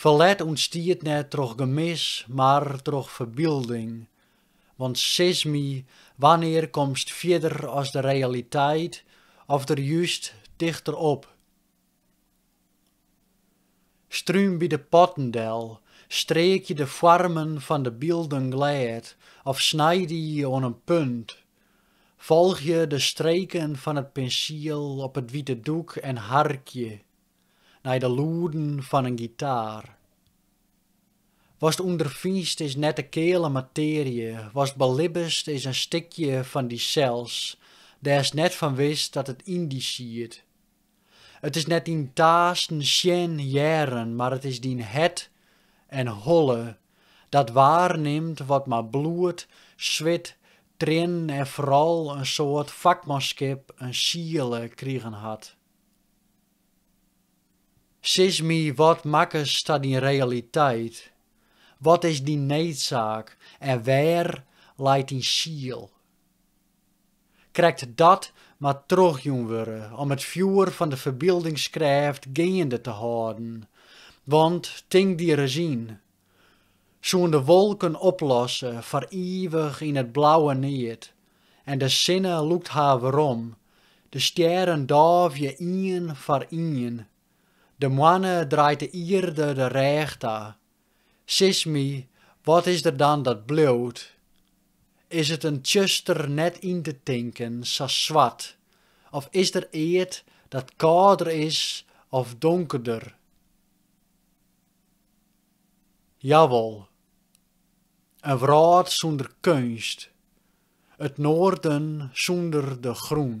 Ferlet ûntstiet net troch gemis, mar troch ferbilding. Want sis my, wannear komst fierder as de realiteit of der just tichter op? Stream by de potten del, streekje de foarmen fan de bylden glêd of snij dy oan in punt. Folgje de streken fan it pinsiel op it wite doek en harkje. nei de lûden fan in gitaar. Watst ûnderfinst is net de keale matearje, watst belibbest is in stikje fan dysels, dêrst net fan wist dat it yn dy siet. It is net dyn taasken, sjen, hearren, mar it is dyn hert en holle, dat waarnimt wat mei bloed, swit, triennen en foaral in soad fakmanskip in siele krigen hat. Sis my, wat makkest ta dyn realiteit? Wat is dyn needsaak en wêr leit dyn siel? Krekt dat moat trochjûn wurde om it fjoer fan de ferbyldingskreaft geande te hâlden, want tink dy ris yn, soene de wolken oplosse foar ivich yn it blauwe neat en de sinne lûkt har werom, de stjerren dôfje ien foar ien, de moanne draait de ierde de rêch ta. Sis my, wat is der dan dat bliuwt? Is it in tsjuster net yn te tinken, sa swart, of is der eat dat kâlder is of donkerder? Jawol, in wrâld sûnder keunst, it noarden sûnder de grûn.